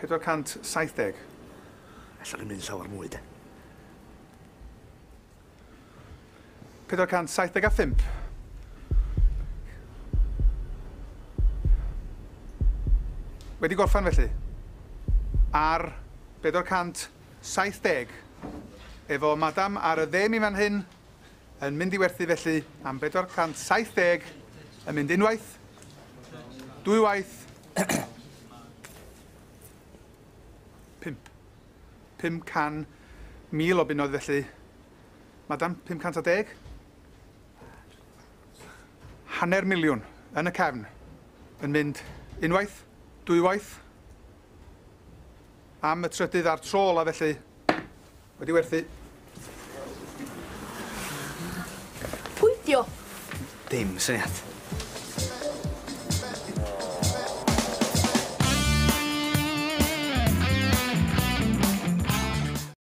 470. Ella fi'n mynd llawer mwy de. 475. Wedi gorffan felly. Ar 470 efo madam ar y dde mi fan hyn. yn mynd i werthu felly am 470 yn mynd unwaith, dwywaith, pimp. 500,000 o bunnoedd felly. Madam, 510? Hanner miliwn yn y cefn yn mynd unwaith, dwywaith, am y trydydd a'r tro ola felly, Wedi werthu. Pwy dio? Dim syniad.